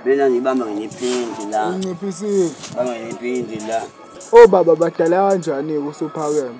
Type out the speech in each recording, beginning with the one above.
Mina ngibamba ngiphinzi la. Unciphisile. Bamba ngiphinzi la. Obaba badala kanjani-ke usuphakeme?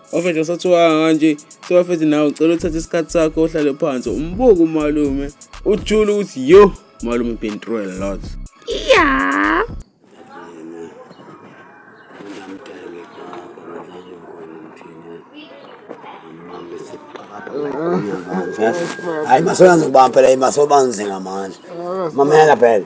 wafethe usathiwanga kanje sewafethe nawe ucela uthathe isikhathi sakho ohlale phansi umbuke umalume ujule ukuthi yo malume been through a lot yeah hayi masoyanzi kubamba phela masobanzi ngamandla mamela phela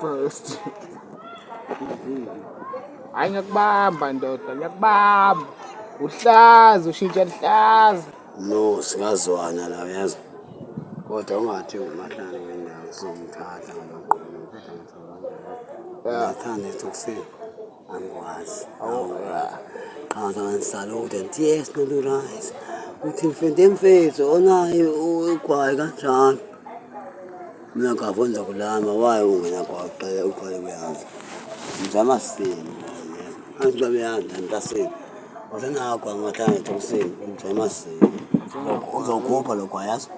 First. Hayi ngiyakubamba ndoda, ngiyakubamba. Uhlaza, ushintsha luhlaza. No, singazwana la uyezwa. Kodwa ungathi umahlala wendawo somthatha ngamaqondo. Ngithanda ethi ukusini. angikwazi qanza ngisalute ngithi yes not right uthi mfende mfethu onayo ugwayi kanjani mina ngavonza kulama waye ungena kwaqela ugwayi kuyazi ngizama sini angizabe yanda ntasini wasenagwa ngahlanga ethosini ngizama sini uzokhupha lokho ayazi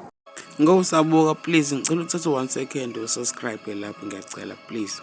ngokusabuka please ngicela uthathe one second usubscribe lapho ngiyacela please